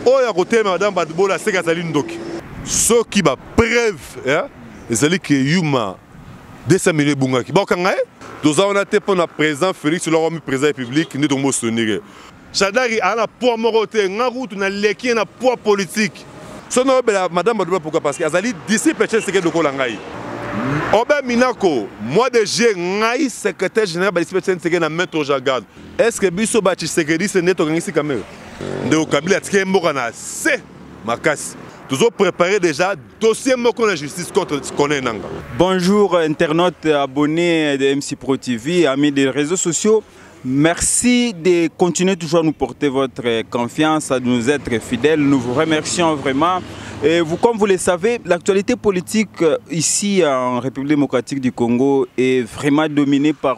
oyo akotelema madame badbola aseki azali ndoki soki bapreuve eh, ezali ke yuma 200 million ebungaki bakokanga ye toza wana te mpo na président félix oloko mi président ya publique nde tongo bosoniri ye shadari aa na poids moko te nga kutu naleki ye na poids politique so nayobela madame badbola pourkua parce que azali disciple chen seke lokola ngai obe minako mois de juillet ngai secrétaire général badisciple chen seke na maître jagard Est-ce que biso ba Tshisekediste nde tokangisi Kamerhe? Ndeko Kabila atikeli mboka na se makasi. Tozo préparer déjà dossier moko na justice contre Corneille Nanga. Bonjour internautes abonnés de MC Pro TV, amis des réseaux sociaux. Merci de continuer toujours à nous porter votre confiance, à nous être fidèles. Nous vous remercions vraiment. Et vous, comme vous le savez, l'actualité politique euh, ici en République démocratique du Congo est vraiment dominée par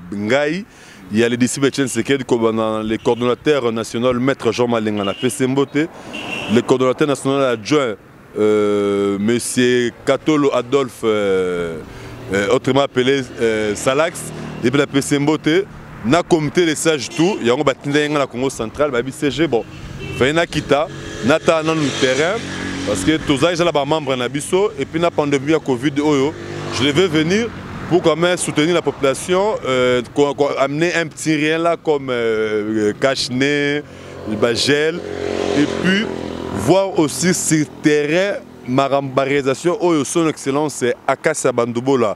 ngai ya le disciple Etienne Sekedi kobanda le coordonnateur national maître Jean Malenga na pese mbote le coordonnateur national adjoint euh, monsieur Katolo Adolphe euh, euh, autrement appelé euh, Salax epe na pese mbote na comité de sage tout yango batindaki ngai na Congo central bayebi CG bon fallait nakita natala nanu terrain parce que toza déjà na bamembre na biso et puis na pandémie ya covid oyo je devais venir pour quand même soutenir la population euh, amener un petit rien là comme euh, euh cache-nez bagel et puis voir aussi sur terrain ma réalisation oyo son excellence akasi ya bandubola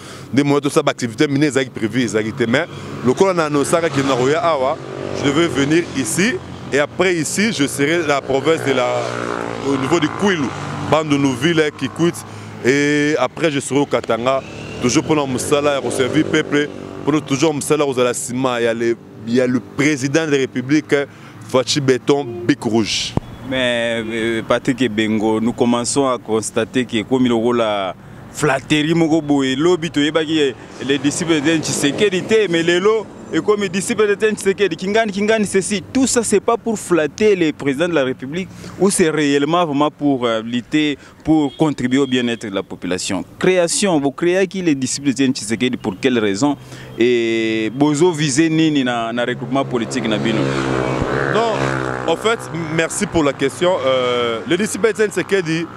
nde moya tosala baactivité mine ezalaki prévu ezalaki te mais lokola na annoncaka kino na koya awa je devais venir ici et après ici je serai la province de la au niveau du kwilu bandundu ville kikwit et après je serai au katanga toujours mpona mosala ya koservir peuple mpona toujours mosala ya kozala nsima ya le, ya le président de la république faci beton bic rouge mais euh, patrick ebengo nous commençons à constater que ekomi lokola flatterie moko boye lobi toyebaki eh, le disciple de Tshisekedi te mais lelo ekomi disciple de Tshisekedi kingani kingani ceci tout ça c'est pas pour flatter le président de la République ou c'est réellement vraiment pour euh, lutter pour contribuer au bien-être de la population création vous créez qui les disciples de Tshisekedi pour quelle raison et bozo viser nini na, na regroupement politique na bino non en fait merci pour la question euh, le disciple de Tshisekedi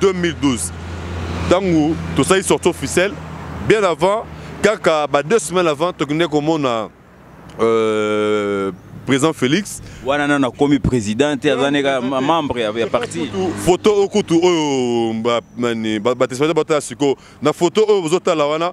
2012 ntango tosali sorti officielle bien avant kaka ba deux semaines avant tokende komona euh, président félix wana nano akomi président te aza neka membre ya parti photo okutu oyo batespaza batala sikoyo na photo oyo bozotala wana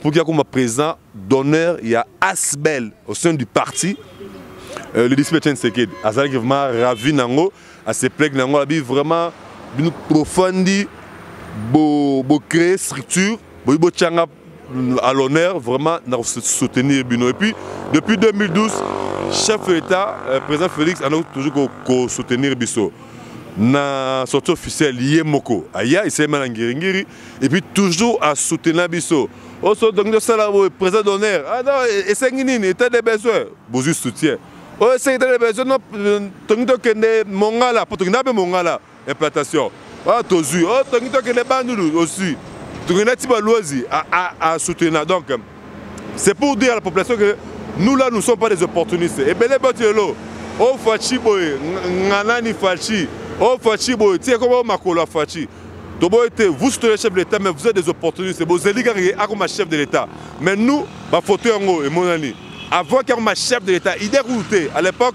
Pour qu'il akoma président d'honneur ya Asbel au sein du parti euh, le disciple Etienne Sekedi azalaki vraiment ravi nango asepleki nango abi vraiment bino profandi bo bo créer structure boyi botyanga à l'honneur vraiment na soutenir bino et puis depuis 2012 chef de l'état euh, président félix azalaki toujours kosoutenir biso na sortie officielle ye moko aya esalema na ngiringiri et puis toujours à soutenir biso oso donc de sala boye présent d'honneur ah non esengi nini état de besoin bozwi soutien oyo esengi état de besoin no tongi tokende mongala mpo tokenda mpe mongala implantation oyo tozwi oyo tongi tokende bandulu ozwi tokenda ti baluazi à soutenir donc c'est pour dire à la population que nous là nous sommes pas des opportunistes ebele batu lelo o faci boye nganani faci o faci boye ti ekoma o makolo ya faci toboye te vous soutenez chef de l'état mais vous êtes des opportunistes bozeli kaka ye akoma chef de l'état mais nous bafoto yango emonani avant qu'il akoma chef de l'état idée kutu te à l'époque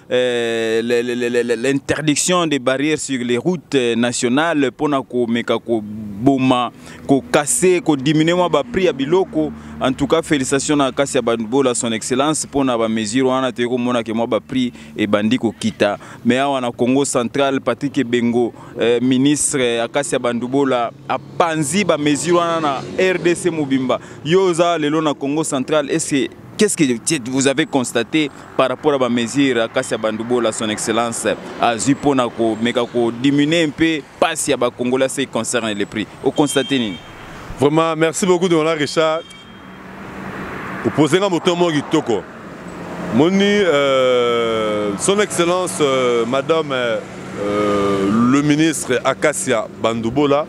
Euh, l'interdiction des barrières sur les routes euh, nationales pour na komeka koboma kokase kodiminue mwa baprix ya biloko en tout cas félicitation na kasi ya banbola son excellence pour na bamesure wana toyei komonake mwa baprix ebandi kokita mais awa na congo central patrik ebengo euh, ministre akasi ya bandubola apanzi bamesure wana na rdc mobimba yo oza lelo na congo central ese qu'est-ce que vous avez constaté par rapport à ba mesure akasi ya bandubola son excellence azwi mpo na komeka kodiminue mpe mpasi ya bakongolais se concerne le prix okonstate nini vraiment merci beaucoup dona richard opose nga moto moko kitoko moni euh, son excellence euh, madame euh, euh le ministre akasia bandubola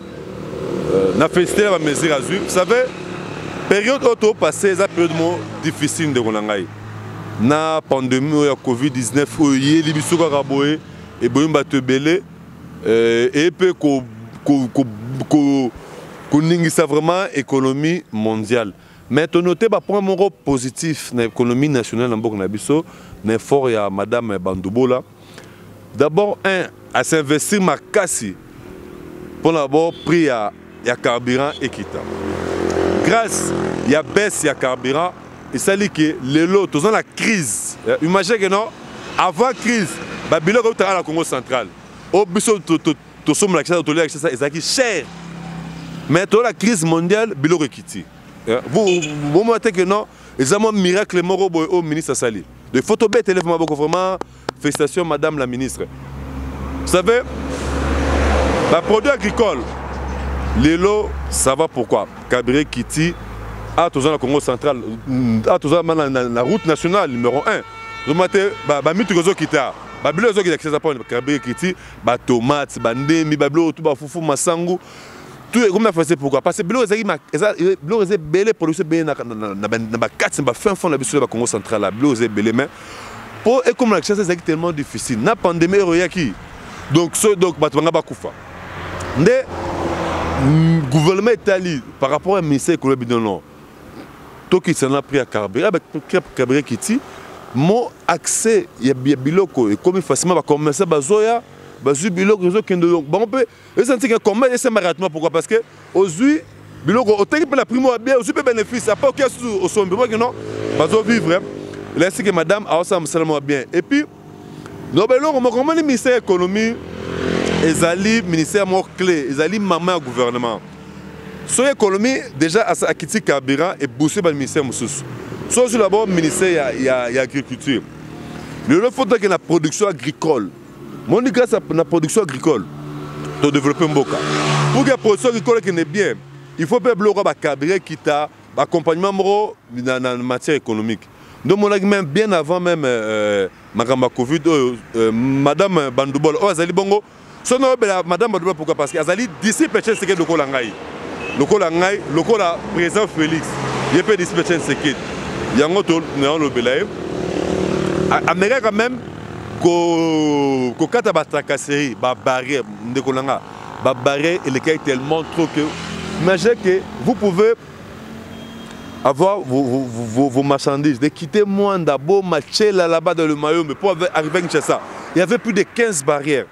euh, na félicité ya bamesure azwi vous savez période oyo topasse eza période moko difficile ndeko na ngai na pandemie oyo ya covid-19 oyo eyeli biso kaka boye eboyi bato ebele euh, eye mpe koningisa vraiment économie mondiale mais tonote bapoint moko positif na économie nationale na mboka na biso na effort ya madame bandubola D'abord un à s'investir makasi pour d'abord prix ya ya carburant ekita. Grâce ya baisse ya carburant esali que lelo toza na crise. Euh, Imagine que non avant crise ba biloko utaka na Congo central. O biso to to to somme la kisa to lia kisa ezaki cher. Mais to la crise mondiale biloko ekiti. Euh, vous vous montez que non eza mwa miracle moko boye oyo ministre asali de faut tobetele vrema boko vraiment félicitation madame la ministre vous savez baproduit agricole lelo ça va pourquoi kabire kiti awa toza na congo central awa toza na route nationale numéro 1 ozomona te bamituka ezokita babilo ezokita kisasa mpo kabire kiti batomate bandembi babilo oyo tu bafufu masangu tout ekomi na français pourquoi parce que biloko ezalaki biloko eza ebele production ebele na bakati na bafin fond na biso ya bacongo central ya biloko eza ebele mais mpo ekoma na kinshasa ezalaki tellement difficile na pandémie ero eyaki donc so donc bato banga bakufa nde gouvernement etali par rapport ya ministère ekolo ya bino non tokitisa na prix ya carburant ah, carburant ekiti mo accès ya biloko ekomi facilement bacommerçant bazoya bazwi biloko ezokende bango mpe eza ntika combat ese maratma pourquoi parce que ozui biloko otengi mpe na primo ya bien ozui mpe bénéfice après okia susu osombi omaki non bazo vivre elakisi ke madame aosala mosala mwa bien et puis loba eloko moko omoni ministère ya économie ezali ministère moko clé ezali mama ya gouvernement soki économie déjà akiti carburant ebousse baministère mosusu so ozwi labo ministère ya, ya, ya agriculture lelo fotaki na production agricole moni grâce à na production agricole to développer mboka pour que production agricole qui n'est bien il faut pe bloka ba cadrer kita ba accompagnement moko na, na matière économique donc monaki même bien avant même euh, makambo ya covid oyo euh, madame bandubol oyo azali bongo soki nayobela madame bandubol pourquoi parce que azali disciple chen sekedi lokola ngai lokola ngai lokola président félix ye mpe disciple chen sekedi yango to nayolobela ye amekaka même kokata batracasserie babarrière ndeko na nga babarrière elekaki tellement trop que imagine que vous pouvez avoir vos, vos, vos, vos marchandises de quitter Mwanda, Boma, Tchela là-bas dans le Mayombe pour arriver à Kinshasa il y avait plus de 15 barrières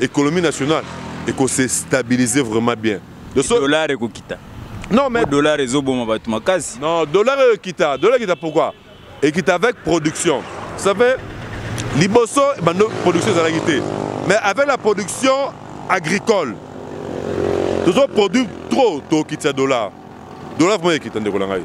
Economie nationale et qu'on se stabiliser vraiment bien. Le so... dollar et kokita. Non mais dollar et zoboma batu makasi. Non, dollar et kita, dollar kita pourquoi Et kita avec production. Ça fait liboso bando production ezalaki te. Mais avec la production agricole. Tozo produit trop to kita dollar. Dollar vraiment kita ndeko na ngai.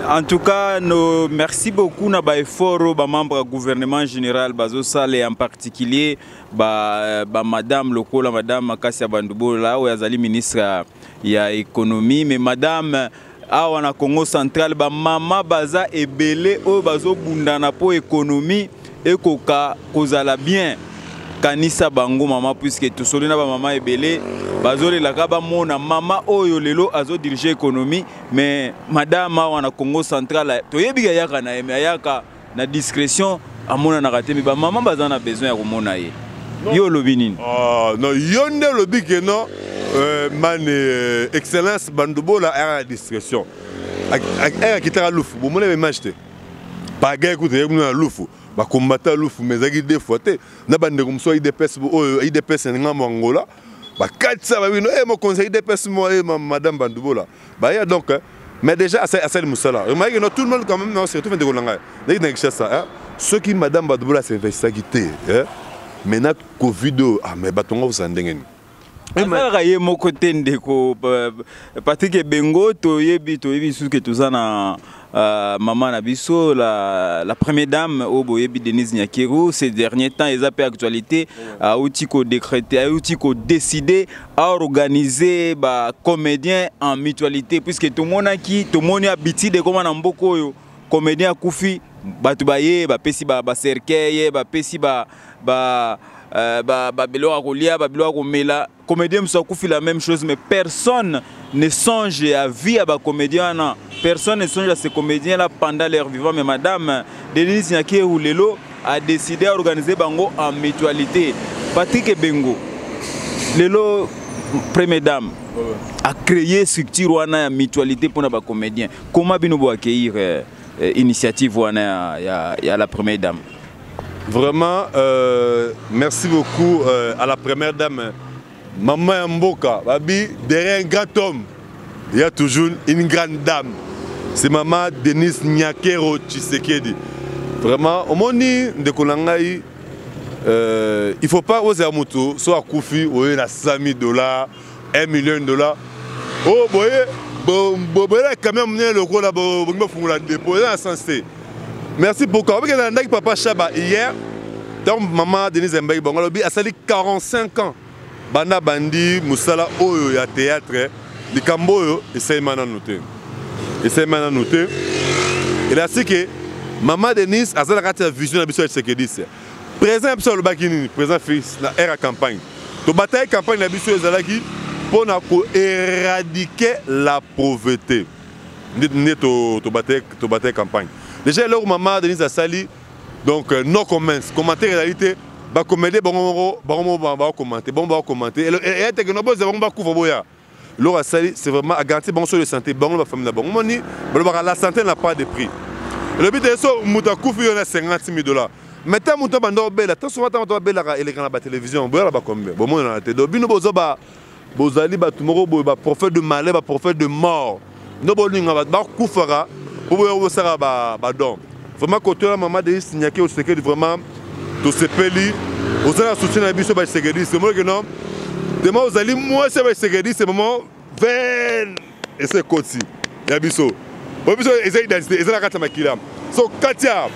En tout cas, nos, merci beaucoup na ba effort ba membres gouvernement général bazo sale en particulier ba, ba madame lokola madame makasi ya bandubola oyo azali ministre ya, ya économie mais madame awa na congo central bamama baza ebele oyo bazobundana mpo économie ekoka kozala bien kanisa bango mama puiske tosoli na bamama ebele bazolelaka bamona mama oyo lelo azodirige économie mais madame awa na congo central toyebi ayaka na ye me ayaka na discrétion amonanaka te mais ba maman baza na besoin ya komona ye yo olobi nini ah, non yo nde olobi ke non euh, mane euh, excellence bandubola ayaka na discrétion ayaka kitaka lufu bomona ba image te pagay kutu eyaki kuna na lufu bakombata lufu mais ezalaki deux fois te na bandeko mosusu ya idps oyo idps na ngambo angola bakatisa babino e eh, mokonzi ya idps moye madame bandubola Bah yeah, donc, hein, mais déjà, à celle Moussala, remarquez, non, tout le monde quand même, non, surtout, mais de Golanga, dès que tu ça, hein, ceux qui, madame Badoula, c'est ça qui t'est, hein, maintenant, Covid, oh, ah, mais Batonga, vous en dégagez. azalaka ye moko te ndeko patrik ebengo toyebi toyebi lisusu ke toza na Euh, maman na biso la, la première dame oyo boyebi denise nyakeru ces derniers temps eza mpe actualité auti kodécréte auti kodécide aorganize bacomédien en mutualité puisque tomonaki tomoni habitude ekoma na mboka oyo comédien akufi bato baye bapesi bacercueil ba bapesi ba, ba, ba, ba, ba, ba biloko ya kolia ba biloko ya komela comédien mosusu akufi la même chose mais personne ne songe ya vie ya bacomédien wana personne ne songe ya ces comédien là pendant leur vivant mais madame denise nyakehu lelo a décidé à organiser bango en mutualité patrik ebengo lelo première dame a créé structure wana ya mutualité mpona bacomédien comment bino boaccueillir euh, euh, initiative wana ya, ya, ya la première dame Vraiment, euh, merci beaucoup euh, à la première dame, maman ya mboka, babi derrière un grand homme, il y a toujours une grande dame. C'est maman Denise Nyakero Tshisekedi. Vraiment, omoni ndeko na ngai euh, il faut pas oza moto so akufi oye na 100 000 dollars 1 million de dollars oh boye boboyela camion monene lokola bolingi bofungola depo eza na sens te merci beaucoup obike nalandaki papa shaba hier ntango mama denise mbaki bango alobi asali 45 ans banda bandi mosala oyo ya théâtre likambo oyo esalema nanu te esalema nanu te elasike mama denise aza na kati ya vision na biso ya tshisekediste Président biso alobaki nini? Président Félix na era campagne. Tobataki campagne na biso ezalaki mpo na ko éradiquer la pauvreté. Nde tobataki campagne. Déjà eloko mama Denise asali donc euh, no comments, commentaire ezali te bakomede bango moko bango moko bakomante bango bakomante eyateke no boza bango bakufa boya eloko asali c'est vraiment agaranti bango so de santé bango na bafamille na bango moni balobaka la santé na pas de prix elobi te so moto akufi yo na 50 000 dollars mais ntango moto abanda obela to souvent ntango moto abelaka eleka na batelevizio boyala bacombien bomonana te donc bino boza ba bozali bato moko boye baprophète de malheur baprophète de mort ndo bolinga bato bakufaka mpo boya kosaka badon vraiment kotola mama de signake osekeli vraiment tosepeli oza na soutien na biso basekediste omoneke no dema ozali mwasi ya basekediste mama ven ese ekoti ya biso oyo biso eza identité eza na kati ya makila So Katia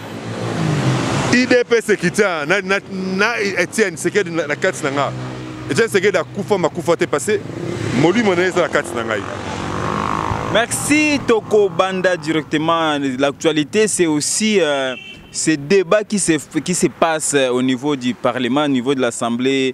IDPS ekitia na, na, na Etienne Sekedi na, na kati na nga Etienne Sekedi akufa makufa te parce molimo na ye eza na kati na ngai Merci Toko Banda directement. L'actualité c'est aussi euh, ces débats qui se, qui se passent euh, au niveau du Parlement, au niveau de l'Assemblée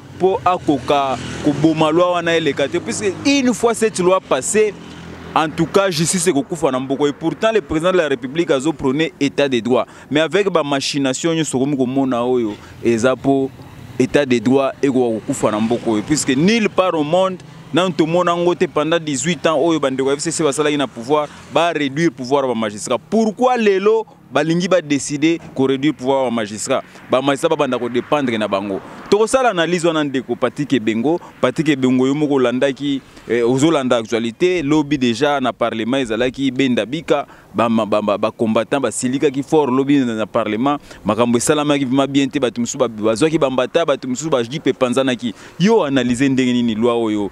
mpo akoka koboma loi wana eleka te puisque une fois cette loi passée en tout cas justice ekokufa na mboko et pourtant le président de la république azo prôner état de droit mais avec ba machination nyonso okomi komona oyo eza mpo état de droit ekoka kokufa na mboko oyo puisque nulle part au monde nanu tomona yango te pendant 18 ans oyo bandeko ya fcc basalaki na pouvoir ba réduire pouvoir ya bamagistrat pourquoi lelo balingi ba décider ko réduire pouvoir ya magistrat ba magistrat babanda ko dépendre na bango tokosala analyse wana ndeko Patrick Ebengo Patrick Ebengo yo moko olandaki eh, ozolanda actualité lobi déjà na parlement ezalaki benda bika ba ba ba, ba combattant basilikaki fort lobi na parlement makambo esalamaki vraiment bien te bato mosusu bazwaki bambata bato mosusu bajipe epanzanaki yo analyse ndenge nini loi oyo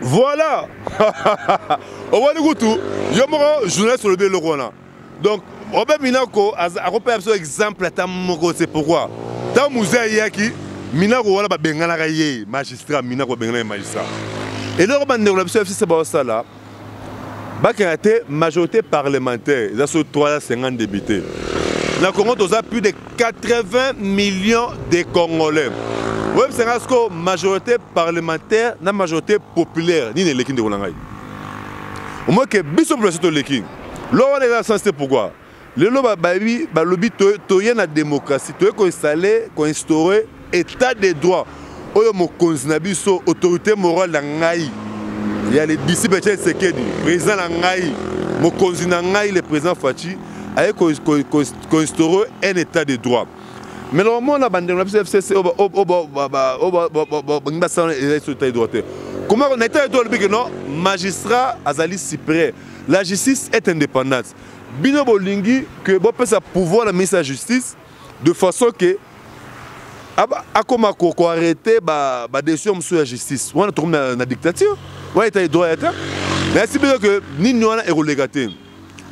Voilà Omoni kutu yo moko journaliste olobi eloko wana. Donc Robert Minako akopesa biso exemple ata moko c'est pourquoi ntango muze ayaki Minako wana babenganaka ye magistrat Minako babenganaka ye magistrat eloko bandeko na biso ya FCC baosala bakenda te majorité parlementaire eza so 350 député na congo toza plus de 80 millions de congolais oyebisa ngai sikoyo majorité parlementaire na majorité populaire nini eleki ndeko na ngai omoke biso population toleki loko wana eza sense te pourquoi lelo babayebi balobi toye na démocratie toye koinstalle koinstaure état de droit oyo mokonzi na biso autorité morale na ngai ya le disciple chen sekedi président na ngai mokonzi na ngai le président faci aye koinstaure un état de droit mais loko mona bandeko na biso fcc bangi basala eza biso état de droit te koma na état de droit olobi ke non magistrat azali supérieur la justice est indépendante bino bolingi que bopesa pouvoir na ministre ya justice de façon que akoma koarrete badécision mosusu ya justice wana tokomi na dictature wana eta edroit ya te nayasi bino ke nini wana ekoleka te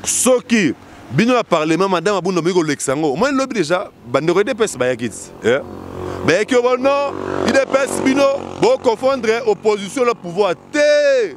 soki bino ya parlement madame abunda boyi kolekisa yango omoni lobi deja bandeko edps bayaki ti eh? bayaki obo non idps bino boconfondre opposition na pouvoir te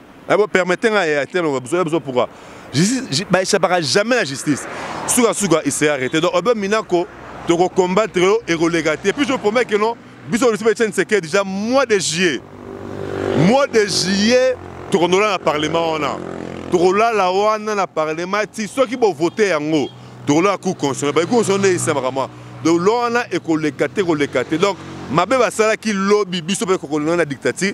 Eh, bo permettez nga ya te loba biso biso pourquoi justice ba échappera jamais la justice suka suka il s'est arrêté donc obe minako to ko combattre yo et relega te puis je promets que non biso le sebe tsen seke déjà mois de juillet mois de juillet to ko ndola na parlement wana to ko lala wana na parlement ti soki bo voter yango to ko lala cour constitutionnelle ba cour constitutionnelle esamaka moi donc loana et ko lega te ko lega te donc mabe basalaki lobi biso mpe kokolona na dictature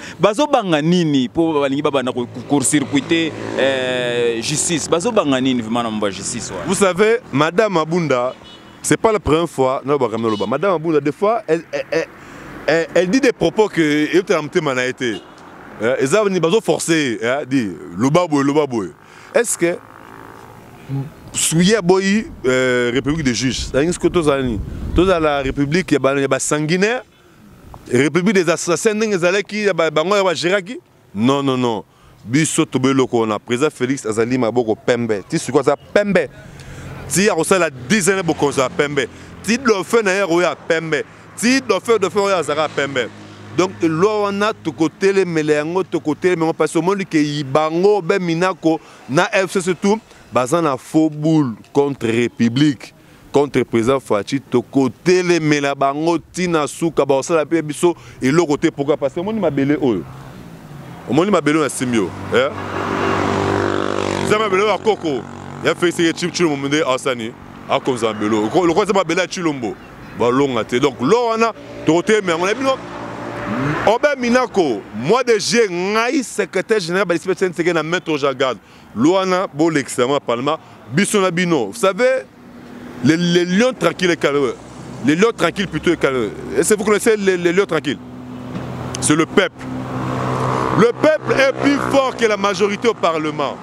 bazobanga nini mpo balingi babanda kocourcircuite eh, justice bazobanga nini vraimen na mambo ya justice wana vous savez madame abunda c'est pas la première fois nalobaka naloba madame abunda des fois elle, elle, elle, elle, elle dit des propos que eyotela motema na ye te eh, eza bazoforce eh, di loba boye loba boye est ce que suye aboyi euh, république de juge alingi soki tozala nini tozala république ya basanguinaire République des assassins ndenge ezalaki bango ya bageraki non non non biso tobe eloko wana président félix azali maboko pembe ti sikoyo aza pembe ti akosala 10 ans bokonzi ya pembe ti dofe na ye akoya pembe ti dofe dofe oyo azalaka pembe donc elwa wana tokotelemela yango tokotelema yango parce omoni ke bango be minako na fcc tout baza na faux boule contre république contre président Fatshi tokotelemela bango tina suka bakosala mpe biso eloko te pourquoi parce que omoni mabele oyo omoni mabele oyo nasimbi oyo eh? eza mabele oyo ya koko ya feliseke chipchilombo nde asani akonza mabele oyo lokola eza mabele ya chilombo balonga te donc lo wana tokotelemela yango na bino obe minako mois de juillet ngai secrétaire général balisipe senseke na maître jagade Luana bolekisa yango na parlement biso na bino vous savez les, les lions tranquilles et calme les lions tranquilles plutôt et calme est-ce que vous connaissez les, les lions tranquilles c'est le peuple le peuple est plus fort que la majorité au parlement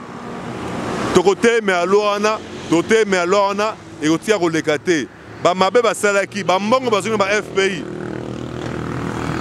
tokotelemela loi wana totelemela loi wana ekotika koleka te bamabe basalaki bambongo bazongi na ba fpi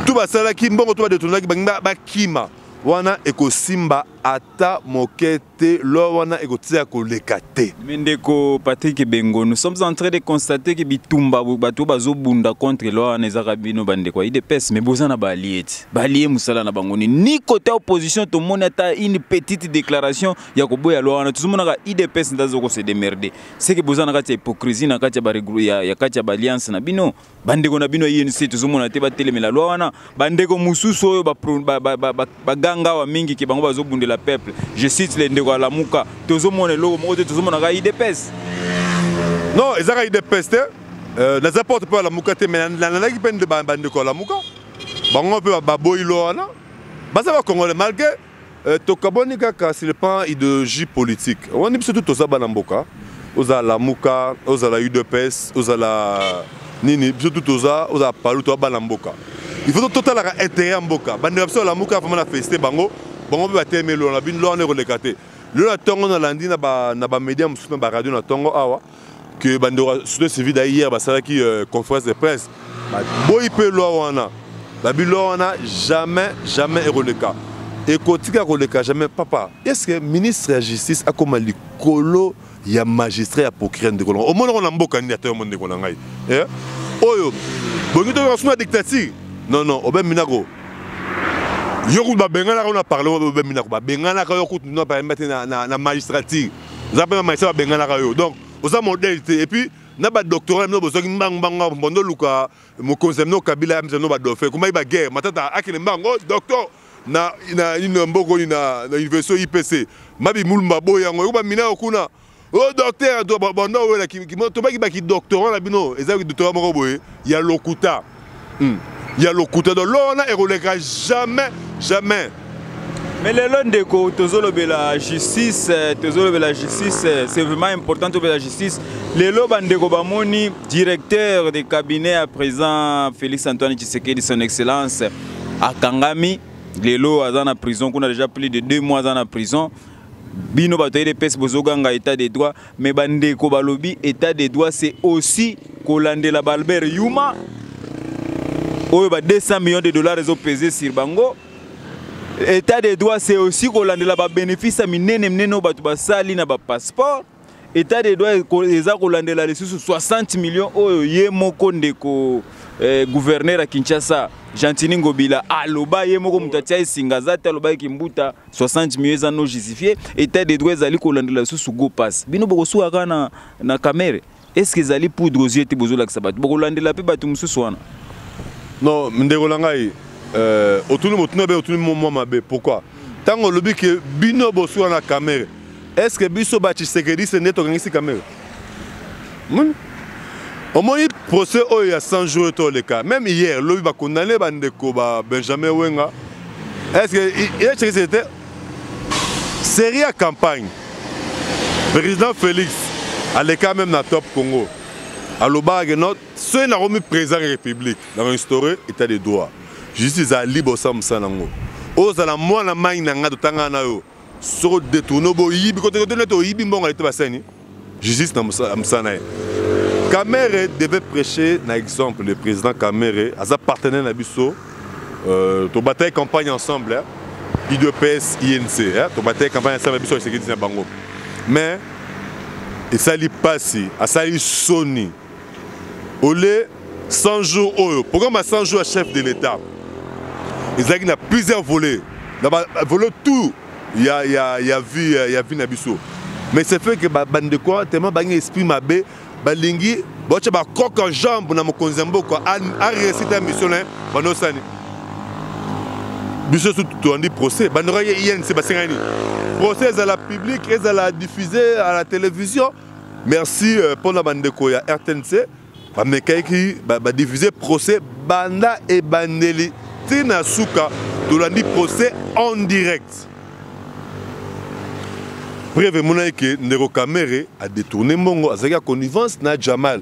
to basalaki mbongo to badetonaki bakima wana ekosimba ata moke te loi wana ekotia koleka te mais ndeko patrick bengo nous sommes en train de constater que bitumba bato oyo bazobunda contre loi wana ezaka bino bandeko ya idps mais boza na baalie ti baalie mosala na bango nini ni kote ya opposition tomoni ata une petite déclaration ya koboya loi wana tozomonaka idps nde azoko se demerde seke boza na kati ya hypocrisie na kati ya kati ya baalliance na bino bandeko na bino ya inc tozomona te batelemela lwa wana bandeko mosusu oyo baganga awa mingi ke bango bazobundela peuple je cite le ndeko alamuka tozomona eloko moko te tozomonaka idps non ezaka idps te euh, naza porte mpo alamuka te mai nalandaki mpe bandeko alamuka bango mpe baboyi lwa wana baza bakongole malgre Euh, tokabwani kaka sur le plan idéologie politique wani biso tu toza bana mboka ozala lamuka ozala udps ozala nini biso tu toza ozala palu toza bana mboka il faut totalaka intérêt ya mboka bandeko biso lamuka vraiment na félicité bango bango mpe batelemeli wana bino lwana ekoleka te lelo na ntongo nalandi na bamédia mosusu na baradio na ntongo awa que bandeko ya société civile ya hier basalaki euh, conférence de presse baboyi mpe loi wana babi loi wana jamais jamais ekoleka ekotika koleka jamais papa est ce que ministre ya justice akoma likolo ya magistrat ya procureur ndeko na ngai omonoko na mboka nini ata yo mo ndeko na ngai eh? oyo bongi toyoka suna dictature non non obe minako yo kutu babenganaka yo na parlement obe minako babenganaka yo kutu na parlement te na magistrature oza mpe bamaisa babenganaka yo donc oza modèle te et puis na badoctorat mino bozwaki mbangu mbangu awa mpondo oluka mokonzi ya mino kabila ya mizano badofe ekomaki baguerre matata akende mbangu o oh, docteur na ina mboko oyo na université ipc mabi mulumba aboyi yango eko bamina yo kuna o oh, docteur banda owela tobaki bakidoctorat na bino eza kidoctorat moko boye ya lokuta hmm. ya lokuta do loi wana ekoleka jamais jamais mais lelo ndeko tozolobela justice euh, tozolobela justice euh, c'est vraiment important tobela justice lelo bandeko bamoni directeur de cabinet à présent félix antoine tshisekedi son excellence akangami lelo aza na prison kuna déjà plus de deux mois aza na prison bino bato ya edps bozoganga état de droit Mais ba ndeko balobi état de droit c'est aussi kolandela ba Albert Yuma oyo ba 200 millions de dollars ezo peser sur bango état de droit c'est aussi kolandela ba bénéfice minene minene oyo bato basali na ba passeport état de droit eza kolandela lisusu 60 millions oyo ye moko ndeko eh, gouverneur ya kinshasa gentini ngobila aloba ye moko moto atia esinga aza te alobaki kimbuta 60 millions eza no justifié état de droit ezali kolandela lisusu go pass bino bokosuka kaka na, na kamere eske ezali poudre aux yeux te bozolakisa bato bokolandela mpe bato mosusu wana non ndeko na ngai euh, otuni motuna be otuni mwa mabe pourquoi ntango olobi ke bino bosuka na kamere est ce que biso ba tshisekediste nde tokangisi kamere hmm? omoni procès oyo ya 100 jours to leka même hier lobi bakondane bandeko ba benjamin wenga est ce que ye tshisekedi te série ya campagne président félix aleka même na top congo alobaka ke no soki nakomi président ya république na restaurer état de droit justice ezala libre osala mosala na yango ozala mwana mai na ngai totangana na yo soko detourne oboyibi kotokoto nete oyibi mbongo alete basani justice na mosala na ye kamere devait prêcher na exemple le président kamere aza partenaire na biso euh, tobataki campagne ensemble hein? udps inc hein? tobataki campagne ensemble biso esekedi na bango mais esali mpasi asali soni ole 100 jours oyo programme ya 100 jours ya chef de l'état ezalaki na plusieurs volets na bavole tout ya, ya, ya vie ya, ya vie na biso mais c'est fait que bandeko ba tellement bangi esprit mabe balingi baotya bacoke en jambe na mokonzi ya mboka aresita mission na ye banosani biso sutu toyandi procès bandeko ye inc basengani procès ezala public ezala diffuse à la télévision Merci euh, pona bandeko ya RTNC bamekaki badifuse procès banda ebandeli ti na suka tolandi procès en direct preuve emonaki ke ndeko kamere adetourne mbongo azalaki ya connivence na jamal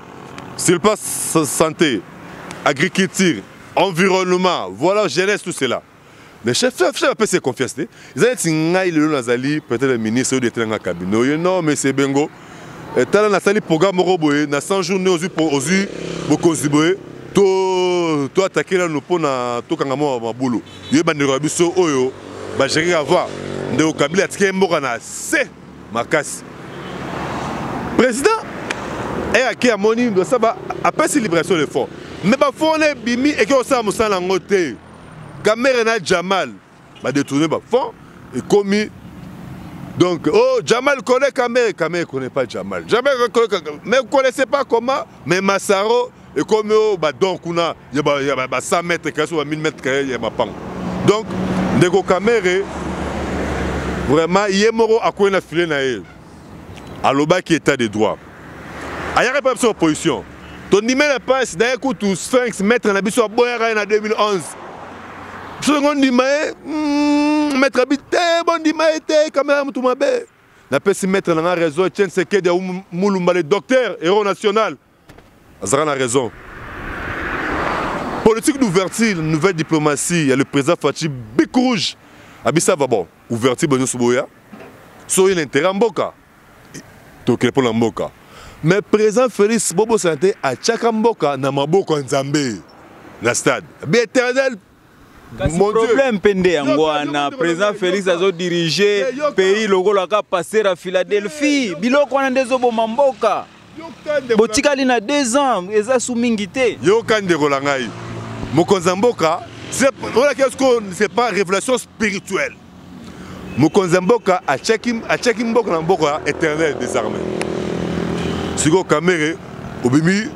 Sur le plan santé, agriculture, environnement, voilà jeunesse tout cela. Mais chef, chef, chef, apesi ye confiance te eza neti ngai lelo nazali peut-être ministre oyo detena nga kabine oyo non monsieur bengo eh, tala nasali programme moko boye na 100 jours nde ozwi ozwi bokonzi boye to to atake nanu mpo na tokanga mwa mabulu ye bandeko ya biso oyo bageraka voir ndeko kabila atike mboka na se makasi président eyaki eh, amoni ndosaba apesi libération de fond me bafo wana ebimi eke kosala mosala yango te kamere na jamal badetourne bafond ekomi donc oh jamal connaît kamere kamere connaît pas jamal jamal mais connaissait pas comment mais masaro ekomi oyo badon kuna ya ba 100 mètre kaya so ba 1000 mètre kaya ya mapango donc ndeko kamere vraiment ye moko akwei na file na ye alobaki état de droit ayaka mpe biso opposition tondimela mpasi na ye kutu sphinx maître na biso aboyaka ye na 2011 biso ndenge ondima ye hmm, maître abi te bondima ye te kamera motu mabe napesi maître na nga raison etienne sekedi ya mulumba le docteur héros national azalaka na raison politique d'ouverture nouvelle diplomatie ya le président faci bic rouge abisava bon ouverture bo nyonso boya so oye na intérêt ya mboka tokele mpo na mboka mais président félix bobosana te atyaka mboka na maboko ya nzambe na stade bieternel kasi problème mpe nde yango wana président félix azodirige pays lokola ka passer à philadelphie biloko wana nde ezoboma mboka botikali na deux ans eza su mingi te yoka ndeko na ngai mokonzi ya mboka olaki esko c'est pas révélation spirituelle mokonzi ya mboka atiaki mboka na mboka ya éternel désarmé sikoyo kamere obimi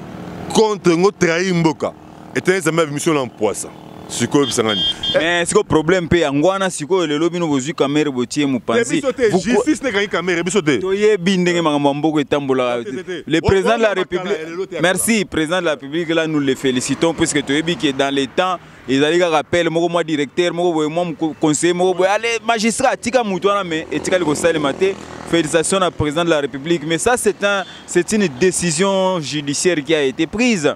contre ngo trahir mboka eteni zambe abimiso na mpwasa sikoyo bisangani mais eh, sikoyo problème mpe yango wana sikoyo lelo bino bozwi kamere botie mopanzijustice nekangi kamere biso te toyebi ndenge makambo ya mboko etambolaka le président de la république merci président de la république là nous le félicitons puisque toyebi ke dans le temps ezali kaka appel moko mwa directeur moko boye mwa conseiller moko boye ale magistrat atika motu wana mais etikali kosalema te félicitations na président de la république mais ça c'est un c'est une décision judiciaire qui a été prise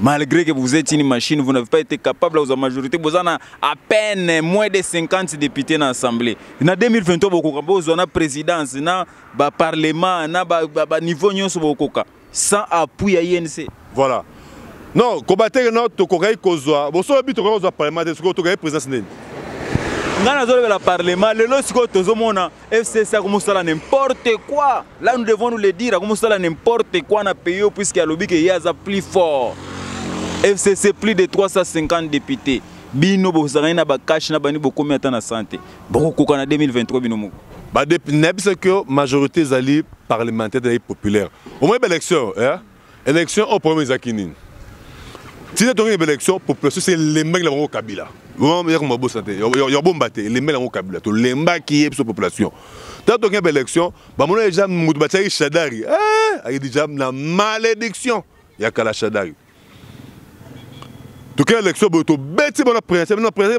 malgré que vous êtes une machine vous n'avez pas été capable aux majorité boza na à peine moins de 50 députés na assemblée na 2023 bokoka bozwa na présidence na ba parlement na ba, ba, ba niveau nyonso bokoka sans appui ya INC voilà non kobateke no tokokaki kozwa bosolo bi tokokaki kozwa parlement te soki tokokaki présidence nini ngai nazolobela parlement lelo sikoyo tozomona FCC akomosala n'importe quoi. Là nous devons nous le dire, akomosala n'importe quoi na pays puisque alobi que yaza plus fort. FCC plus de 350 députés. Bino bozangani na ba cash na bani bokomi ata na santé. Bokokoka na 2023 bino moko. Ba nayebisa que majorité ezali parlementaire ezali populaire. Au moins ba élection, hein? Election au problème ezaki nini tina tongi ba election population se lembaki na bango kabila vraiment yako mabosa te ya bomba te lembaki yango kabila to lembaki ye biso population ta tongi ba election ba mona déjà mutu ba tsaki shadari eh ayi déjà na malédiction ya kala shadari toke election boye tobeti bana prince bana prince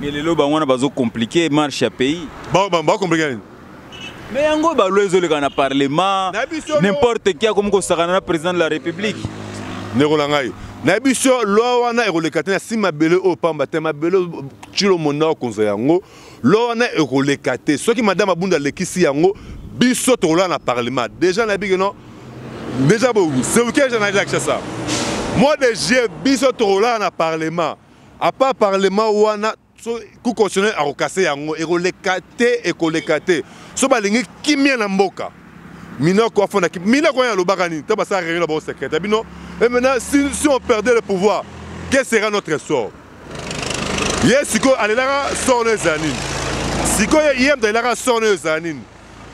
mais lelo bango wana bazo compliquer marche ya pays ba ba ba compliquer nini mais yango ba loi ezoleka na parlement n'importe qui akomi kosakana na président de la république ndeko na ngai na biso loi wana ekoleka te na si mabele oyo pamba te mabele cilo monda okonza yango loi wana ekoleka te soki madame abunda alekisi yango biso tokolala na parlement déjà nayebi ke non déjà bo seuke eza na eza kisa ça mois de juillet biso tokolala na parlement à part parlement wana so cour constitutionnel akokase yango ekoleka te ekoleka te so balingi kimia na mboka minoko afona minoko oyo alobaka nini ntango basala réunion na bango secrète ya bino e maintenant si, si on perdait le pouvoir que sera notre sort ye sikoyo alelaka sort no ezala nini sikoyo ye moto alelaka sort no ezala nini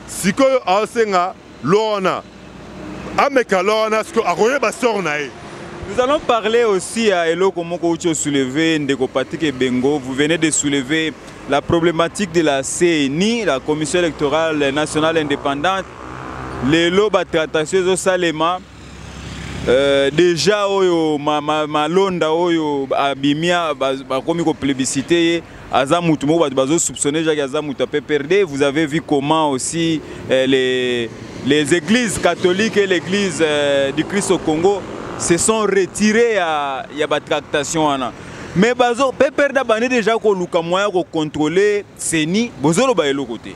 sikoyo aosenga lorna ameka lorna sikoyo akoyeba sor na ye Nous allons parler aussi à Eloko Moko Ucho soulevé, Ndeko Patrick Ebengo. Vous venez de soulever la problématique de la CENI, la Commission électorale nationale indépendante. Les loba tractations au Salema, Euh, deja oyo malonda ma, ma oyo abimia bakomi koplébisite ye aza mutu moko bato bazosoupçonne jaki aza mutu ya pprd vous avez vu comment aussi euh, les, les églises catholiques et l'église euh, du christ au congo se sont retirés ya, ya batractation wana mais bazo pprd abandi deja koluka moyen ya kocontrôle ceni bozoloba eloko te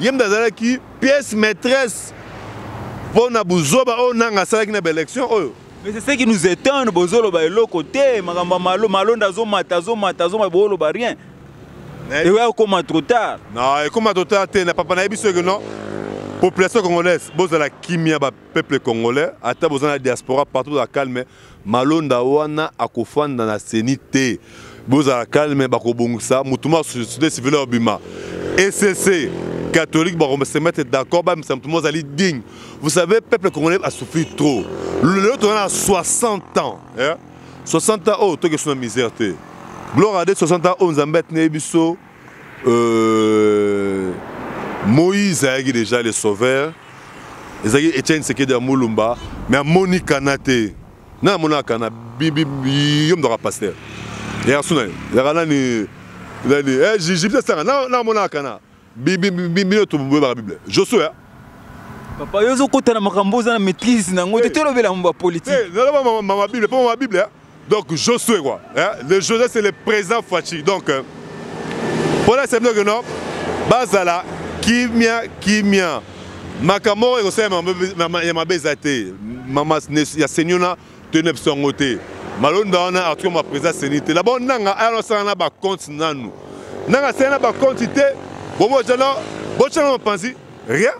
ye mda azalaki pièce maîtresse mpo na buzoba oyo nanga asalaki na baélection oyo mais c'est ce qui nous étonne bozoloba eloko te makambo malo malonda azomata azomata azomata booloba rien eya okoma trop tard non ekoma trop tard te na papa nayebi soki non population congolaise bozala kimia ba peuple congolais ata boza na diaspora partout la calme Malonda wana akofanda na ceni te bozala calme bakobongisa motu moko société civile oyo abima ecc catholique se mettre d'accord bamisa motu moko azali digne vous savez peuple congolais asouffrir trop lelo toza na 60 ans eh? 60 ans oyo oh, tokesuna misère te gloire à de 60 ans oyo oh, nzambe atineli biso Euh, Moïse ayaki déjà le sauveur. Ezaki Etienne Sekedi ya Mulumba, mais amoni kana te. Na amona kana bibi yo mdoka pasteur. Ya suna, ya kana ni nani eh Gigi peut sanga na na amona kana bibi bibi to boye ba Bible. Josué Papa yo zo kota na makambo za na maîtrise na ngo te eh. tolobela mba politique. Eh, na mama mama Bible, mama Bible. Donc Josué quoi, hein? le Josué c'est le président Fatshi. Donc euh, pour la semaine que non, bazala kimia kimia. Makambo ekosala ya mabe eza te. Mama ya Senyona tene biso yango te. Malonda wana article ma président seni te. Labo nanga ayano sala na ba compte nanu. Nanga sala na ba compte te. Bobo jana, bochana mpanzi, rien.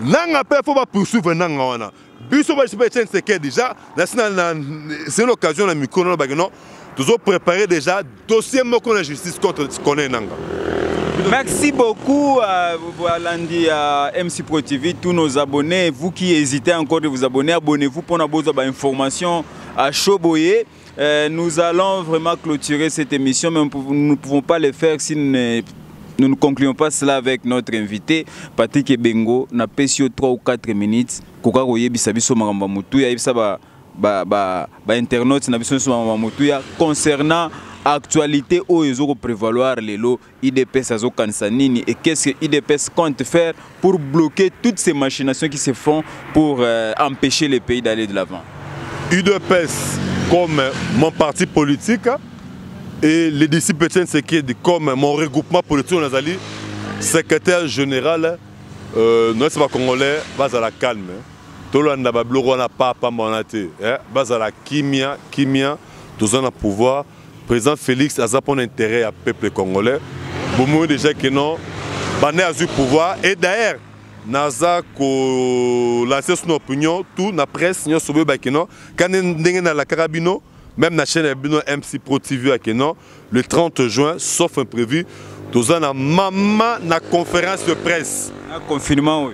Nanga pe faut ba poursuivre nanga wana. biso bashi ba Etienne Tshisekedi déjà nasi na c'est l'occasion na micro na bakino tozo préparer déjà dossier moko na justice contre Corneille Nangaa Merci beaucoup à euh, Boalandi, à MC Pro TV, tous nos abonnés. Vous qui hésitez encore de vous abonner, abonnez-vous pour avoir des informations à Choboye. Euh, nous allons vraiment clôturer cette émission, mais nous ne pouvons pas le faire si nous ne nous ne concluons pas cela avec notre invité Patrick Ebengo na PCO 3 ou 4 minutes koka koyebisa biso makambo ya motu ya yebisa ba ba ba, ba internautes na biso nyonso makambo ya motu ya concernant actualité oyo ezoko prévaloir lelo Udps azokanisa nini et qu'est-ce que Udps compte faire pour bloquer toutes ces machinations qui se font pour euh, empêcher le pays d'aller de l'avant Udps comme mon parti politique et les disciples de Sekedi comme mon regroupement politique nazali secrétaire général euh, noyesi bacongolais bazala calme tolanda babiloko wana papa mwana te eh, bazala kimia kimia toza na pouvoir Président Félix aza pona intérêt ya peuple congolais. Bomoyo déjà que non bande azui pouvoir et d'ailleurs naza ko lancer son opinion tout na presse nyo sobe ba que non quand ndenge na la carabino même na chaîne bino MC Pro TV à que non le 30 juin sauf imprévu toza na maman na conférence de presse. Na confinement oui.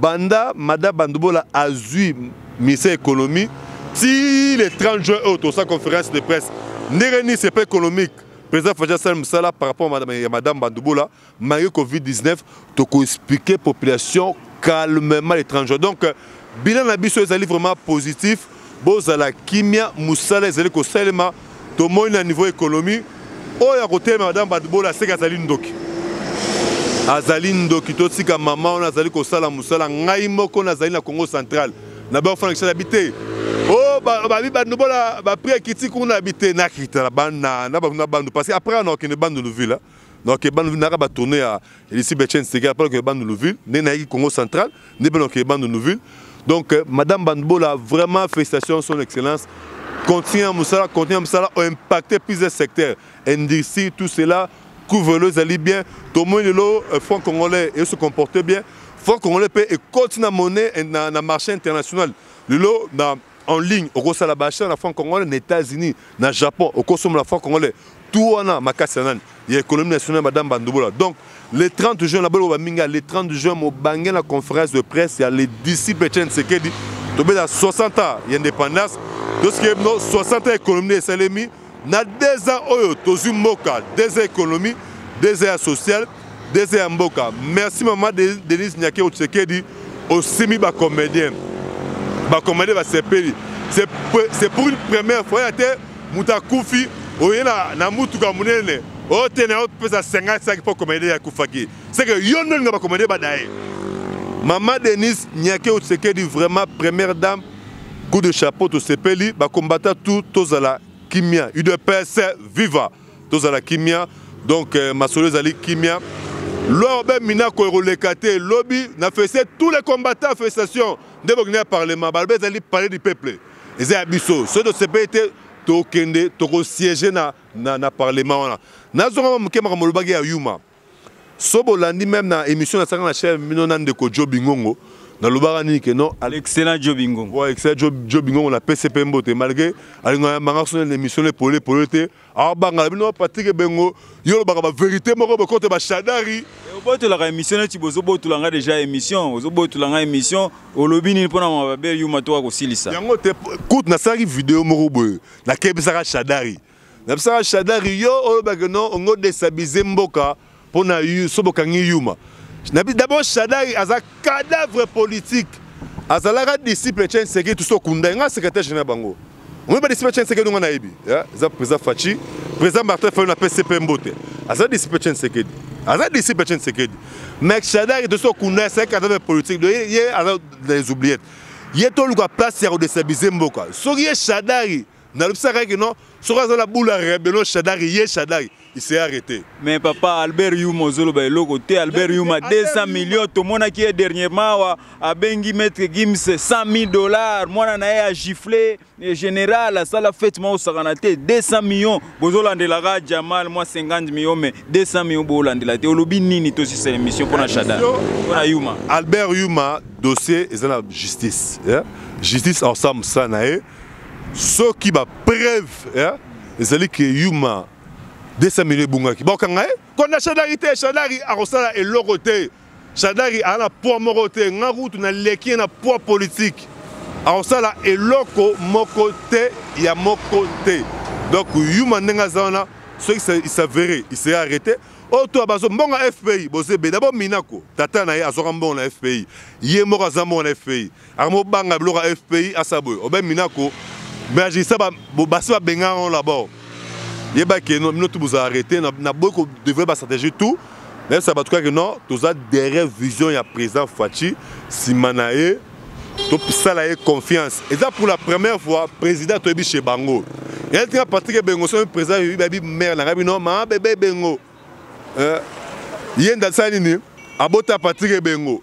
Banda Mada Bandubola azui ministère ya economie ti le 30 juin oyo tosala conférence de presse ndenge nini sepa économique président Faji asali mosala par rapport ya madame Bandubola malgré Covid-19 toko expliquer population calmement le 30 juin donc bilan na biso ezali vraiment positif. Bozala kimia musala ezali kosalema tomoni na niveau economie oyo akotelema madame Badbola aseki azali ndoki azali ndoki totika mama wana azali kosala mosala ngai moko nazali na congo central na bafana kisala bi te o oh, babi bandobola bapri akiti kuna bi te nakita na bandu parce que après anakokende bandundu ville donc ke bandu naka ba tourner ya ici Betchen Sega par que bandu Louville ndenge nayaki Congo central nde pe donc bandu Louville donc euh, madame Bandbola vraiment félicitations son excellence continuer à musala continuer à musala impacter plus de secteurs industrie tout cela couvre-le ezali bien tomoni lelo euh, franc congolais et se comporter bien franc congolais pe ekoti na monnaie na, na marché international lelo na en ligne okosala baachat na franc congolais na états-unis na japon okosomola franc congolais tout wana makasi ya nani ya économie nationale ya madame bandubola donc le 30 juin naboloba baminga le 30 juin mobange na conférence de presse ya le disciple chen sekedi tobela 60 ans ya indépendance tosikebino 60 ans économie esalemi Na deux ans oyo tozui mboka, deux ans economie, deux ans ya social, deux ans ya mboka. Merci maman Denise Nyakero Tshisekedi, osimi ba comediens. Ba comediens basepeli. C'est pour une première fois yate moto akufi oye na, na mutuka munene ote na opesa 50 saki mpo komedie akufaki seke yo nde olinga bakomedie badaye mama denise nyakeo tshisekedi vraiment première dame Coup de chapeau tosepeli ba combattants tout tozala kimia udps viva tozala kimia donc euh, masolo ezali kimia loi obe minako ekoleka te lobi na fese tous les combattants festation nde bokende ya parlement balobi ezali palais du peuple eza ya biso soki tosepeli te tokende tokosiege na, na, na parlement wana nazongama moke makambo olobaki ya yuma so bolandi meme na émission na saka na chef mino na ndeko Joe Bingongo na lobaka nini ke non excellent Joe Bingongo bon excellent Joe, Joe Bingongo na PCP mbote malgré alinga manga so na émission le polé polé te a banga bino Patrick Bengo yo lobaka ba vérité moko ba kote ba shadari eh, obotolaka émission neti bozobotula nga déjà émission ozobotula nga émission olobi nini mpo na mababe yuma to akosilisa yango te kutu nasalaki video moko boye nakebisaka shadari na bisaka shadari yo oloba que non ongo destabiliser mboka mpo na so bokangi yuma d'abord shadari aza cadavre politique azalaka disciple chen seki tuso okunda ye nga secrétaire général bango omoi badisciple chen seki nonga nayebi eza président faci président martin fayol na pcp mbote aza disciple chen sekedi aza disciple chen sekedi mais shadari tosi okunda c'est cadavre politique do ye aza les oubliettes ye toluka place ya kodestabiliser mboka soki ye shadari nalobisaka ye kino soki aza na bula rebelo shadari ye shadari ise arrete mais papa albert yuma ozoloba eloko te albert yuma 200 million tomonaki ye dernièrement awa abengi maître gims 100 000 dollars mwana na ye agifle général asala fete mwa osakana te 200 million bozolandelaka jamal mwa 50 million mais 200 million bolandela te olobi nini tosisa émission mpo na shadari mpo na yuma albert yuma dossier eza na justice yeah? justice ensemble sa na ye eh? soki ba preuve eh, ezali ke yuma 200 millions ebungaki bakokanga ye kona shadari te shadari akosala eloko te shadari aza na poids moko te nga kutu naleki ye na poids politique akosala eloko moko te ya moko te donc yuma ndenge aza wana soki isavere isee arrete oyo to bazo mbongo ya fpi boza ebele abo minako tata na ye azwaka mbongo na fpi ye moko aza mbongo na fpi Armo banga biloko ya FPI asa boye. Obe minako bergisa ba basi ba benga on là-bas. Yeba ke no mino tout vous arrêter na, na boy ko devrait ba stratégie tout. Mais ça va tout cas que non, tous a derrière vision ya président Fatshi Simanae tosala ye confiance eza pour la première fois président toyebi chez bango yali tika patrik ebengo soki président yebi bayebi maire na ngai bino maa bebe ebengo eh, ye ndasala nini abota patrik ebengo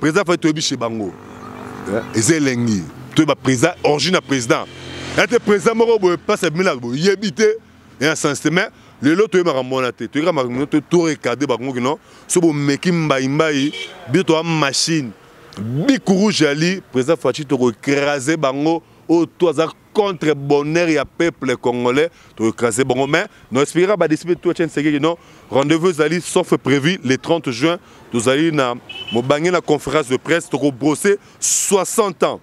Président Fayulu toyebi chez bango. Eh? Eza elengi. Toyeba président, origine ya président. Ete président moko boye place ya bimela boye yebi te ya sens te mais lelo toyebaka mona te toyebaka makambo to to regarder bango kino so bomeki mbai mbai bino toa machine bic rouge ali président Fatshi toko écraser bango oyo to aza contre bonheur ya peuple congolais to écraser bango mais no expliquera ba disciples tout chaîne segeki non rendez-vous ezali sauf prévu le 30 juin tozali na mobange na conférence de presse toko brosser 60 ans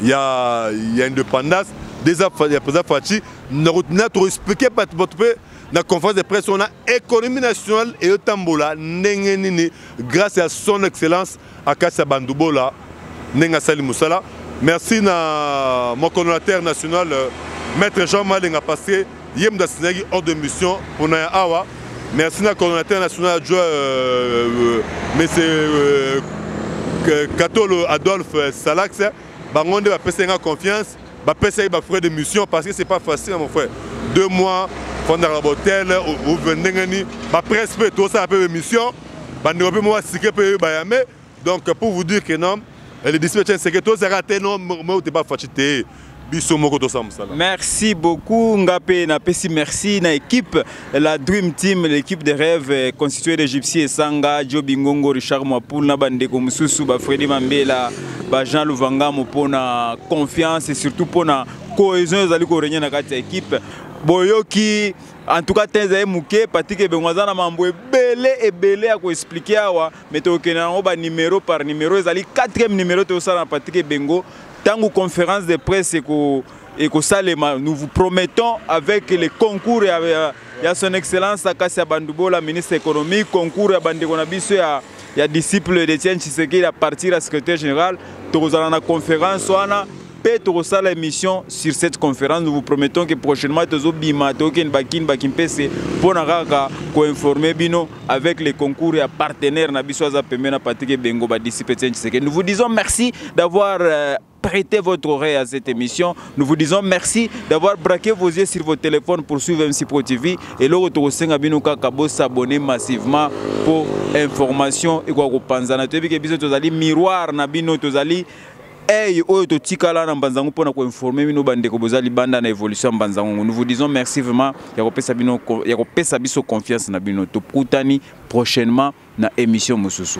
ya ya indépendance des affaires ya président Fatshi na na to expliquer bato bato pe na conférence de presse on a économie nationale et tambola ndenge nini grâce à son excellence Akasia Bandubola ndenge asali musala. Merci na mon coordonnateur national euh, Maître Jean Malenga parce que ye mutu asignaki ordre de mission pona ya awa. Merci na coordonnateur national adjoint euh, euh, monsieur euh, Katolo Adolphe Salax bango nde bapesaki nga confiance bapesaki ba frais de mission parce que c'est pas facile mon frère deux mois fondaka na bahotel ovue ndenge nini bapresse mpe tosala mpe bemission bandeko mpe mwa sike mpe oyo bayame donc pour vous dire que non le disciple tien seke tozalaka te non moi te bafaci te biso moko tosala mosala merci beaucoup nga mpe napesi merci na équipe la dream team l'équipe de rêve euh, constituée de gypsy esanga jobi ngongo richard mwapoul na bandeko mosusu bafredi mambela ba jean luvangamo mpo na confiance et surtout mpo na cohésion ezali korenye na kati ya équipe boyoki En tout cas, tenza muke Patrick Ebengo aza na mambo ebele ebele ya ko expliquer awa, mais tokokende nango ba numéro par numéro. Ezali 4e numéro tosala na Patrick Ebengo tango conférence de presse eko ekosalema. Nous vous promettons avec le concours ya, ya, ya son excellence Akasi Bandubola, ministre économique, concours ya bandeko na biso ya ya disciple de Etienne Tshisekedi à partir ya secrétaire général, tokozala na conférence wana mpe tokosala émission sur cette conférence nous vous promettons que prochainement tozobima tokende bakini bakimpese mpo na kaka koinforme bino avec les concours ya partenaire na biso aza pembe na patrik ebengo badisipe etienne tshisekedi nous vous disons merci d'avoir euh, prêter votre oreille à cette émission. Nous vous disons merci d'avoir braqué vos yeux sur vos téléphones pour suivre MC Pro TV. Et le retour au Senga Binouka Kabo s'abonner massivement pour information et quoi qu'on pense. Nous avons miroir, nous avons Hey, oyo totikala na mbanzango mpo na koinforme bino bandeko boza libanda na évolution ya mbanzango nous vous disons merci vraiment ya kopesa bino ya kopesa biso confiance na bino tokutani prochainement na émission mosusu